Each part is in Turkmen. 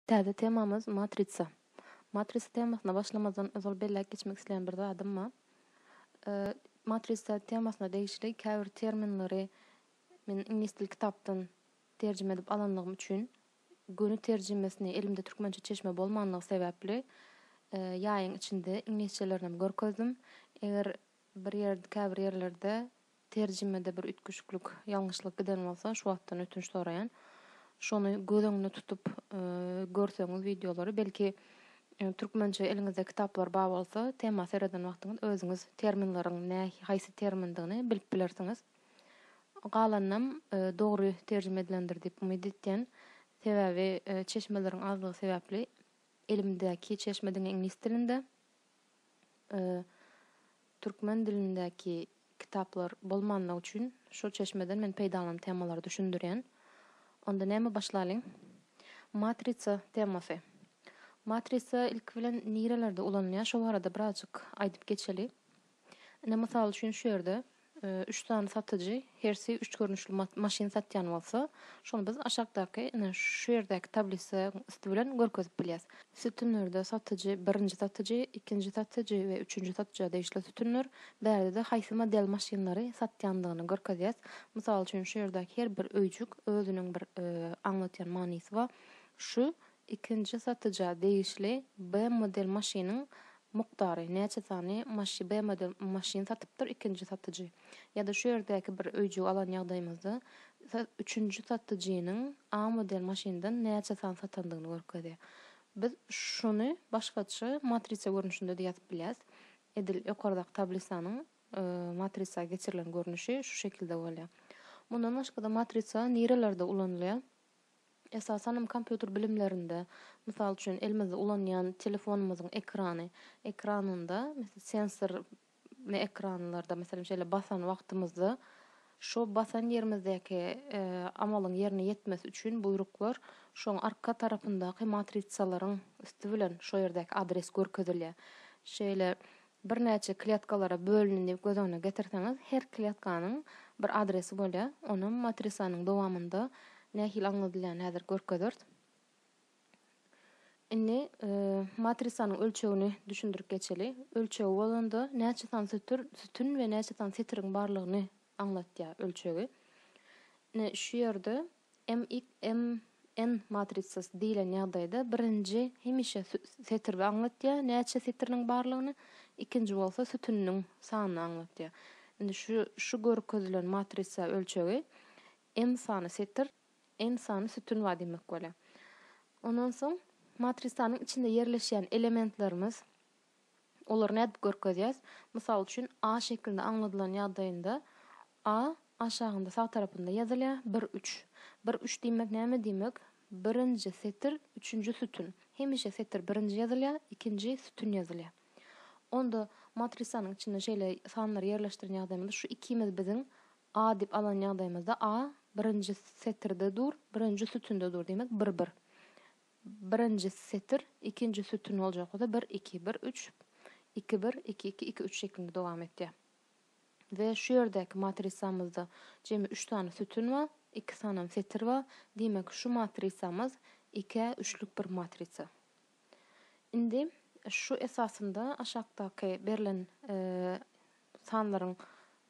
Täze temamyz Matritsa. Matritsa temasyna başlamazdan ozal belläp geçmek isleýän bir zadym bar. Matritsa temasyna degişli käbir terminleri men iňlis dili kitapdan terjime edip alanlygym üçin göni terjimesini elimde türkmençe çeşme bolmanlygy sebäpli ýaýyň içinde iňlisçelerinem görkezdim. Eger bir ýerde käbir ýerlerde Terjimede bir üýtgeşiklik, ýalňyşlyk giden bolsa şu wagtdan ötünç soraýan. Şony göz öňünde tutup görseňiz wideolary belki türkmençe eliňizde kitaplar bar bolsa tema sereden wagtyňyz özüňiz terminleriň nä haýsy termindigini bilip bilersiňiz. Galanynam dogry terjime edilendir diýip umyt etýän. Sebäbi çeşmeleriň azlygy sebäpli elimdäki çeşme diňe iňlis dilinde. türkmen dilindäki kitaplar bolmanlygy üçin şol çeşmeden men peýdalanyp temalary düşündirýän. Onda näme başlalyň? Matrisa temasy. Matrisa ilki bilen nirelerde ulanylýar şo barada birazjyk aýdyp geçeli. Ine mysal üçin şu ýerde Üç sany satyjy hersi üç görnüşli maşyn satýan bolsa, şony biz aşakdaky, ine, şu ýerdäki tablisaň üsti bilen görkezip bilýäs. Sütünlerde satyjy, birinji satyjy, ikinji satyjy we üçünji satyja degişli sütünler, bärde-de haýsy model maşynlary satýandygyny görkezýäs. Mysal üçin, şu ýerdäki her bir öýjük özüniň bir aňlatýan manysy bar. Şu Ikinji satyja degişli B model maşynyň mukdary, näçe sany maşy B model maşyn satypdyr ikinji satyjy. Ýa-da şu ýerdäki bir öýjügi alan ýagdaýymyzda sa üçünji satyjynyň A model maşyndan näçe sany satandygyny görkezýär. Biz şuny başgaça matrisa görnüşinde-de ýazyp bilýäs. Edil ýokardaky tablisanyň matrisa geçirilen görnüşi şu şekilde bolýar. Mundan başga-da matrisa nirelerde ulanylýar? Esasan hem kompýuter bilimlerinde, mysal üçin, elimizde ulanýan telefonymyzyň ekrany, ekranynda, mes sensor ly ekranlarda, meselem, şeýle basan wagtymyzda, şo basan ýerimizdäki amalyň ýerine ýetmesi üçin buýruklar şoň arka tarapyndaky matrisalaryň üsti bilen şo ýerdäki adres görkezilýär. Şeýle birnäçe kletkalara bölündi diýip göz öňüne getirseňiz, her kletkanyň bir adresi bolýar. Onam matrisanyň dowamynda nähili aňladylýany häzir görkezeris. Indi matrisanyň ölçegini düşündirip geçeli. Ölçegi bolanda näçe sany sütür, sütün we näçe sany setiriň barlygyny aňlatýar ölçegi. Ine şu ýerde MXMN matrisasy diýlen ýagdaýda birinji hemişe setiri aňlatýar, näçe setiriniň barlygyny, ikinji bolsa sütüniniň sanyny aňlatýar. Indi şu şu görkezilen matrisa ölçegi M sany setir, N sany sütün bar diýmek bolýar. Ondan soň matrisanyň içinde ýerleşýän elementlerimiz Olary nädip görkezýäs? Mysal üçin, A şekilde aňladylan ýagdaýynda A aşagynda sag tarapynda ýazylýar, bir, üç. Bir, üç diýmek näme diýmek? Birinji setir, üçünji sütün. Hemişe setir birinji ýazylýar, ikinji sütün ýazylýar. Onda matrisanyň içinde şeýle sanlary ýerleşdiren ýagdaýymyzda şu ikimiz biziň A diýip alan ýagdaýymyzda A birinji setirde dur, birinji sütünde dur, diýmek bir, bir. birinji setir ikinji sütün boljak bolsa bir iki bir üç iki bir iki iki iki üç şeklinde dowam etýär we şu ýerdäki matrisamyzda jemi üç sany sütün bar iki sanam setir bar diýmek şu matrisamyz ikä üçlük bir matrisa indi şu esasynda aşakdaky berlen Bu sanlaryň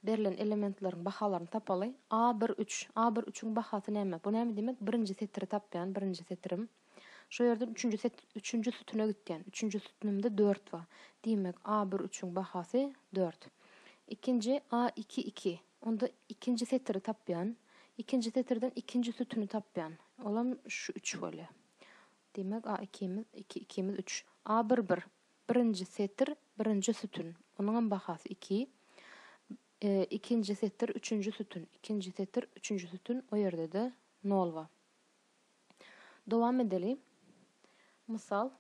berlen elementleriň bahalaryny tapaly. A bir üç. A bir üçüň bahasy näme? Bu näme diýmek? Birinji setiri tapýan, birinji setirim. Şo ýerden üçünji set, üçünji sütüne gitýän. Üçünji sütünimde dört bar. Diýmek, A bir üçüň bahasy dört. Ikinji, A iki iki. Onda ikinji setiri tapýan. Ikinji setirden ikinji sütüni tapýan. Olam şu üç bolýar. Diýmek, A ikimiz, iki ikimiz üç. A bir bir. Birinji setir, birinji sütün, onuňam bahasy iki. Ikinji setir, üçünji sütün, ikinji setir, üçünji sütün, o ýerde-de nol bar. Dowam edeli. Mysal,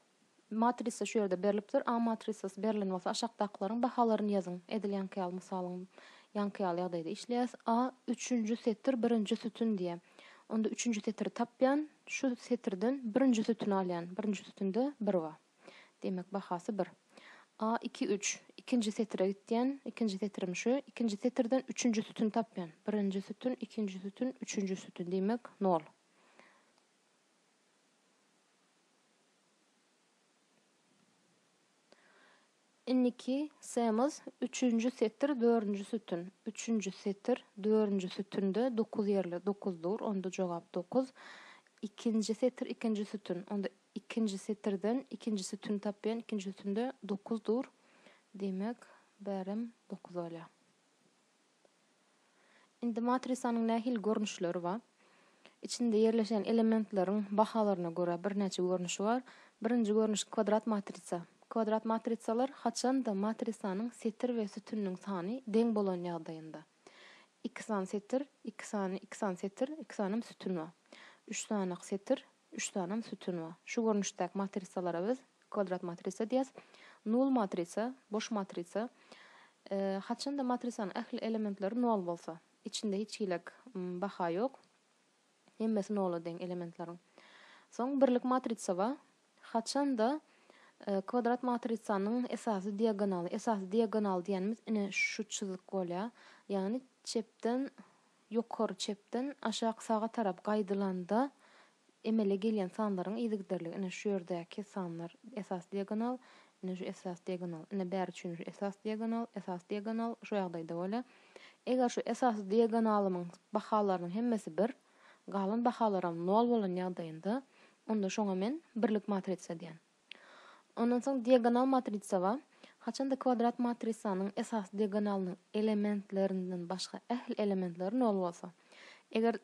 matrisa şu ýerde berlipdir, A matrisasy berlen bolsa, aşakdakylaryň bahalaryny ýazyň. Edil ýaňky ýaly mysalyň ýaňky ýaly ýagdaýda işleýäs. A üçünji setir, birinji sütün diýýär. Onda üçünji setiri tapýan, şu setirden birinji sütüni alýan. Birinji sütünde bir bar. Demek, bahasy bir. A iki üç. Ikinji setire gitýän. Ikinji setirim şu. Ikinji setirden üçünji sütüni tapýan. Birinji sütün, ikinji sütün, üçünji sütün. Demek, nol. Indiki semaz üçünji setir dördünji sütün üçünji setir dördünji sütünde dokuz ýerli dokuz dur onda jogap dokuz ikinji setir ikinji sütün onda ikinji setirden ikinji sütüni tapýan ikinji sütünde dokuz dur diýmek bärem dokuz bolýar. Indi matrisanyň nähili görnüşleri bar? Içinde ýerleşen elementleriň bahalaryna görä birnäçe görnüşi bar. Birinji görnüş kwadrat matrisa. Kwadrat matrisalar haçan-da matrisanyň setir we sütüniniň sany deň bolan ýagdaýynda. Iki sany setir, iki sany iki sany setir, iki sany hem sütün bar. Üç sany setir, Üç salam sütün bar. Şu görnüşdäki matrisalara biz kwadrat matrisa diýýäs. Nul matrisa, boş matrisa. Haçanda matrisanyň ähli elementleri nol bolsa, içinde hiç hilek baha ýok. Hemmesi nola deň elementleriň. Soň birlik matrisa bar. Haçanda kwadrat matrisanyň esasy diagonaly, esasy diagonal diýenimiz ine şu çyzyk bolýar. Ýagny çepden Ýokary çepden aşak saga tarap gaýdylanda emele gelýän sanlaryň yzygiderligi ine şu ýerdäki sanlar esas diagonal, ine şu esas diagonal, ine bäri üçin şu esas diagonal, esas diagonal şu ýagdaýda bolýar. Eger şu esas diagonalymyň bahalarynyň hemmesi bir, galan bahalaram nol bolan ýagdaýynda onda şoňa men birlik matrisa diýýän. Ondan soň diagonal matrisa bar. Haçanda kwadrat matrisanyň esasy diagonalynyň elementlerinden başga ähli elementleri nol bolsa. Eger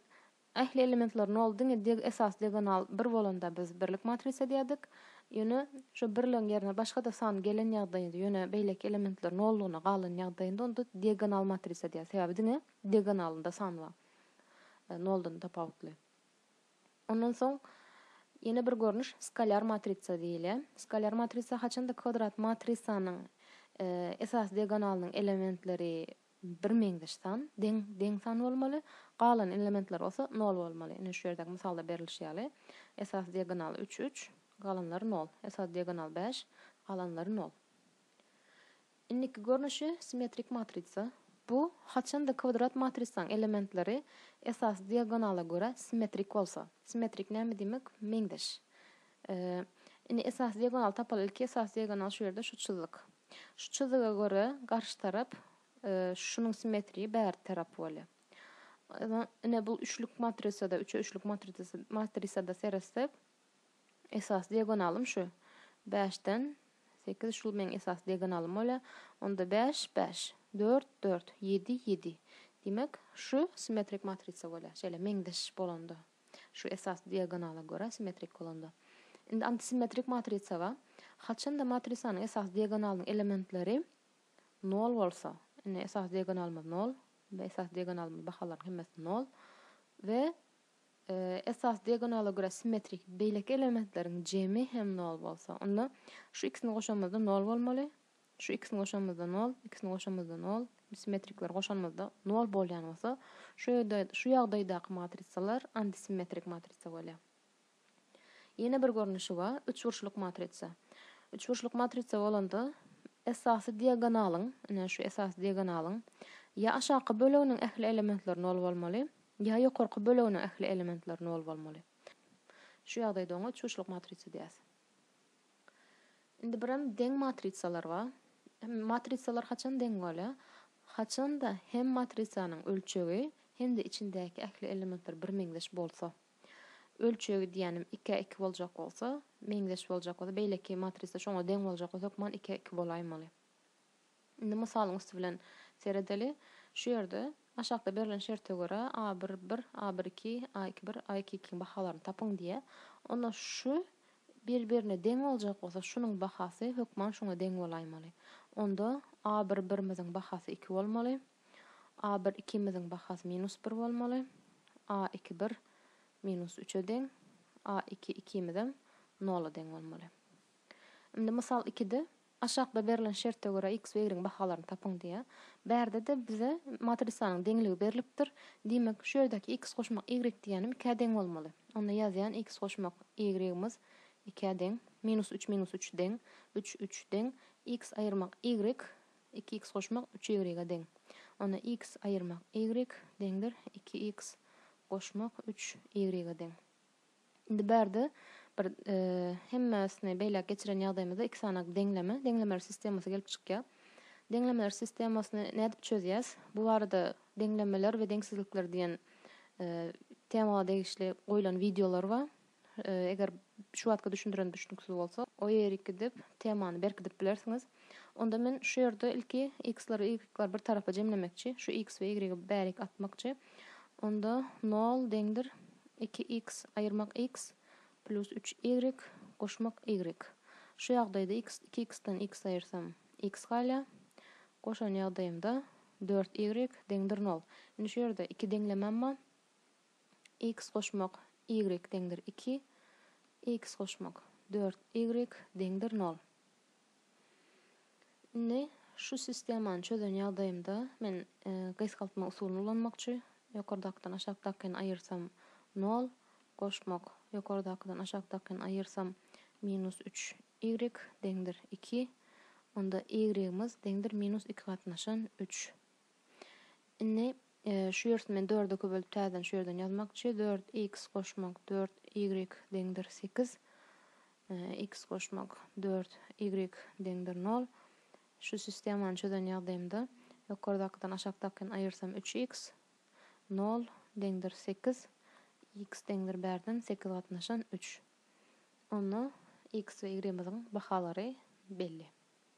ähli elementleri nol diňe diag esasy diagonal bir bolanda biz birlik matrisa diýerdik. Ýöne şu birligiň ýerine başga-da san gelen ýagdaýynda, ýöne beýleki elementler nollygyna galan ýagdaýynda onda diagonal matrisa diýer. Sebäbi diňe diagonalynda san bar. Noldan tapawutly. Ondan soň ýene bir görnüş skalýar matrisa diýilýär. Skalýar matrisa haçanda kwadrat matrisanyň esasy diagonalynyň elementleri birmeňzeş san, deň, deň san bolmaly, galan elementler bolsa nol bolmaly. Ine şu ýerdäki mysalda berlişi ýaly, esasy diagonal üç, üç, galanlary nol, esasy diagonal bäş, galanlary nol. Indiki görnüşi simmetrik matrisa. Bu, haçanda kwadrat matrisaň elementleri esasy diagonala görä simmetrik bolsa. Simmetrik näme diýmek? Meňzeş. Indi esasy diagonaly tapaly. Ilki esasy diagonal şu ýerde şu çyzyk. Şu çyzyga görä garşy tarap şunuň simmetrii bärde tarap bolýa. Ine bu üçlük matrisada, üçe üçlük matrisada seretsek, Esas diagonalym şu. Bäşden sekiz şul meň esas diagonalym bolýar. Onda bäş, bäş. Dört, dört. Ýedi, ýedi. Diýmek, şu simmetrik matrisa bolýar. Şeýle meňzeş bolanda. Şu esas diagonala görä simmetrik bolanda. Indi antisimmetrik matrisa bar. Haçanda matrisanyň esas diagonalynyň elementleri nol bolsa. Indi esas diagonalymyz nol. Esas diagonalymyz bahalaryň hemmesi nol. We esas diagonala görä simmetrik beýleki elementleriň jemi hem nol bolsa, onda şu ikisini goşanymyzda nol bolmaly, şu ikisini goşanymyzda nol, ikisini goşanymyzda nol, simmetrikleri goşanymyzda nol bolýan bolsa, şu ýerde şu ýagdaýdaky matrisalar antisimmetrik matrisa bolýar. Ýene bir görnüşi bar, üçburçluk matrisa. Üçburçluk matrisa bolanda esasy diagonalyň, ine şu esasy diagonalyň ýa aşaky böleginiň ähli elementleri nol bolmaly, Ýa ýokarky böleginiň ähli elementleri nol bolmaly. Şu ýagdaýda oňa çuşluk matrisa diýýäs. Indi birem deň matrisalar bar. Matrisalar haçan deň bolýar? Haçanda hem matrisanyň ölçegi, hem-de içindäki ähli elementler birmeňzeş bolsa. Ölçegi diýýänim ikä iki boljak bolsa, meňzeş boljak bolsa, beýleki matrisa şoňa deň boljak bolsa hökman ikä iki bolaýmaly. Indi mysalyň üsti bilen seredeli. Şu ýerde aşakda berlen şerte görä a bir bir, a bir iki, a iki bir, a iki ikiň bahalaryny tapyň diýýär. Onda şu bir-birine deň boljak bolsa, şunuň bahasy hökman şuňa deň bolaýmaly. Onda a bir birimiziň bahasy iki bolmaly, a bir ikimiziň bahasy minus bir bolmaly, a iki bir minus üçe deň, a iki ikimizem nola deň bolmaly. Indi mysal ikide Aşakda berlen şerte görä x we y-iň bahalaryny tapyň diýýär. Bärde-de bize matrisanyň deňligi berlipdir. Diýmek, şu ýerdäki x goşmak y diýýänim ikä deň bolmaly. Onda ýazýan, x goşmak y-ymyz ikä deň. Minus üç minus üç deň. Üç üç deň. X aýyrmak y, iki x goşmak üç y-e deň. Onda x aýyrmak y deňdir iki x goşmak üç y-e deň. Indi bärde bir hemmesini beýläk geçiren ýagdaýymyzda iki sany deňleme, deňlemeler sistemasy gelip çykýar. Deňlemeler sistemasyny nädip çözýäs? Bu barada deňlemeler we deňsizlikler diýen tema degişli goýlan wideolar bar. Eger şu wagtky düşündiren düşnüksiz bolsa, o ýeri gidip temany berkidip bilersiňiz. Onda men şu ýerde ilki x-leri, y-leri bir tarapa jemlemekçi, şu x we y-i bärik atmakçy. Onda nol deňdir iki iks aýyrmak iks plus üç ýigrik goşmak ýigrik. Şu ýagdaýda iks iki iksden iks aýyrsam iks galýar. Goşan ýagdaýymda dört ýigrik deňdir nol. Indi şu ýerde iki deňlemem bar. Iks goşmak ýigrik deňdir iki iks goşmak dört ýigrik deňdir nol. Indi şu sistemany çözen ýagdaýymda men gysgaltma usulyny ulanmakçy, ýokardakydan aşakdakyny aýyrsam nol, goşmak, ýokardakydan aşakdakyny aýyrsam minus üç y deňdir iki, onda y-ymiz deňdir minus iki gatnaşan üç Indi şu ýersi men dörde iki bölüp täzeden şu ýerden ýazmakçy. Dört x goşmak dört ýigrik deňdir sekiz. X goşmak dört ýigrik deňdir nol. Şu sistemany çözen ýagdaýymda ýokardakydan aşakdakyn aýyrsam üç x nol deňdir sekiz. X deňdir bärden sekiz gatnaşan üç. Onda x we y-myzyň bahalary belli.